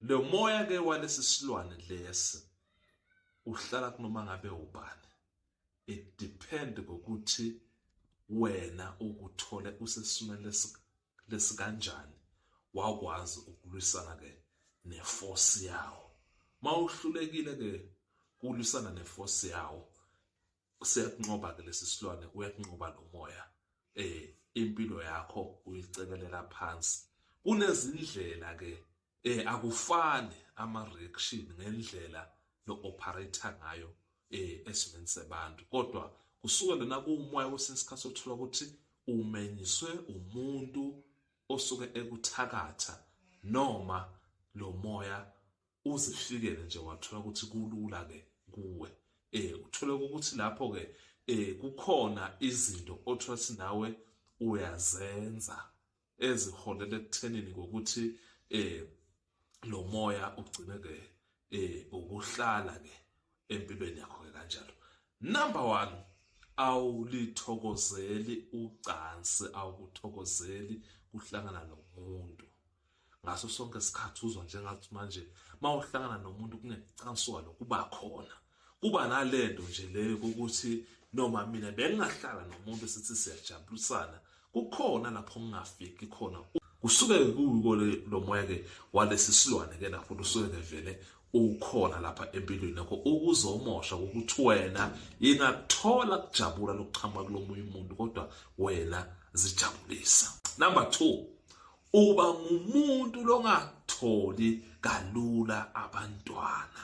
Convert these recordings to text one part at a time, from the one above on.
lo moya ke walesi silwane lesi uhlala kunoma ngabe ubani it depend ngokuthi wena ukuthole usesimele lesikanjani wakwazi ukulwisana ke neforce yawo mawuhlulekile ke kulwisana neforce yawo siyakunqoba ke lesi silwane uyakunqoba nomoya eh impilo yakho uyicekelela phansi kunezindlela ke eh akufani ama reaction ngendlela no operator ngayo eh esimeni sebantu kodwa kusuke lona kuumoya wesinsikhathi othola ukuthi umenyiswe umuntu osuke ekuthakatha noma lo moya uzifikele nje wathola ukuthi kulula ke kuwe eh uthole ukuthi lapho ke eh kukhona izinto othola ukuthi nawe uyazenza eziholela ekuthenini ngokuthi eh lo moya ugcine ke eh ukuhlala ke empilweni yakho ke kanjalo number 1 awulithokozeli ucansi awukuthokozeli kuhlangana nomuntu ngaso sonke isikhathi uzwa njengathi manje mawuhlangana nomuntu kunecansuka lokuba khona kuba nalento nje leyo ukuthi noma mina bengingahlala nomuntu sithi siyajabulisana kukhona lapho ngingafiki khona kusuke kuko lo moya ke walesi silwane ke lapho usuke ngevele ukhona lapha empilweni yakho ukuzomosha ukuthi wena ingakuthola kujabula lokuchama kulomunye umuntu kodwa wena zijabulisa number 2 uba ngumuntu longatholi kalula abantwana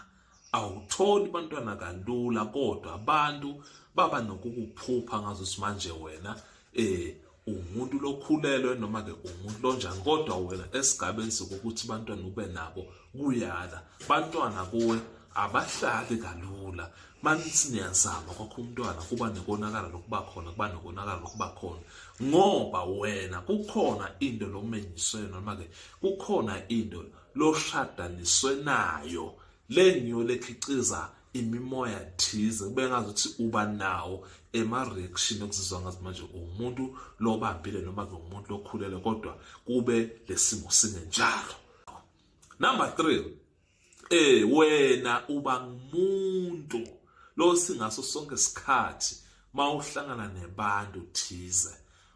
awutholi bantwana kalula kodwa abantu baba nokukuphupha ngazo simanje wena eh umuntu lokhulelwe noma ke umuntu lonjani kodwa wena esigabeni sokuthi bantwana ube nabo kuyala bantwana kuwe abahlali kalula manisi niyazama kwakho umntwana kuba nekonakala lokuba khona kuba nekonakala lokuba khona ngoba wena kukhona into lokumenyiswe noma ke kukhona into loshadaniswe nayo lenyo lekhiqiza imimoya thize kube ngazi ukuthi uba nawo ema-reaction okuzizwa ngazi manje uwumuntu lobambile noma ke umuntu lokhulele kodwa kube lesimo singenjalo number 3 eh wena uba ngumuntu lo singaso sonke isikhathi mawuhlangana nebantu thize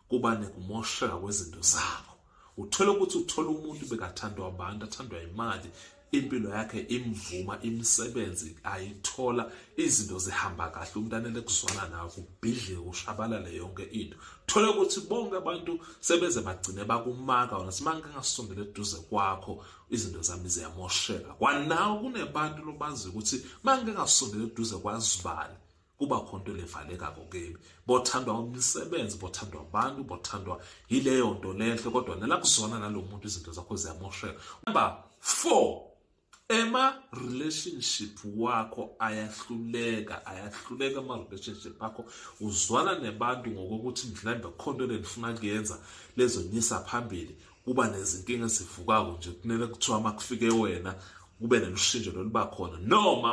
kuba nekumosheka kwezinto zabo uthole ukuthi uthole umuntu bekathandwa abantu athandwa imali impilo yakhe imvuma imisebenzi ayithola izinto zihamba kahle umuntu anele kuzwana nawo kubhidlike kushabalale yonke into thole ukuthi bonke abantu sebeze bagcine bakumaka wona simanga ngasondele eduze kwakho izinto zami ziyamosheka kwanawo kunebantu lobazi ukuthi mangeke ngasondele eduze kwazibani kuba khona into levaleka kokebi bothandwa umsebenzi bothandwa abantu bothandwa yileyo nto lenhle kodwa nela kuzona nalo muntu izinto zakho ziyamosheka number 4 ema relationship wakho ayahluleka ayahluleka ama relationship akho uzwana nebantu ngokokuthi mhlawumbe khonto lenifuna kuyenza lezonyisa phambili kuba nezinkinga ezivukako nje kunele kuthiwa makufike wena kube nelushintsho loluba khona noma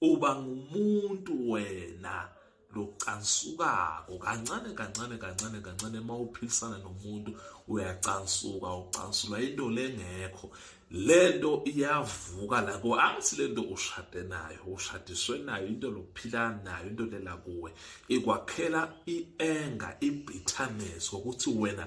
uba ngumuntu wena locansukako kancane kancane kancane kancane uma uphilisana nomuntu uyacansuka ucansulwa into lengekho lento iyavuka la kuwe angithi lento ushade nayo ushadiswe nayo into lokuphila nayo into lela kuwe ikwakhela ienga ibitterness ukuthi wena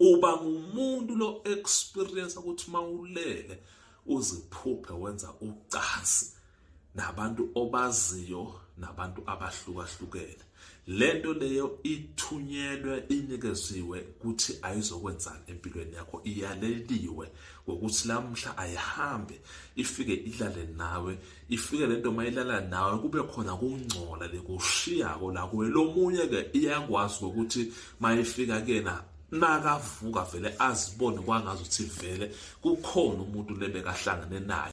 uba ngumuntu lo experience ukuthi mawulele uziphuphe wenza ucansi nabantu obaziyo nabantu abahlukahlukene lento leyo ithunyelwe inikeziwe ukuthi ayizokwenzani empilweni yakho iyaleliwe ngokuthi lamhla ayihambe ifike ilale nawe ifike le nto mayilala nawe kube khona kungcola lekushiyako la kuwe lomunye ke iyakwazi ngokuthi mayifika kena nakavuka vele azibone kwangazi ukuthi vele kukhona umuntu lebekahlangene naye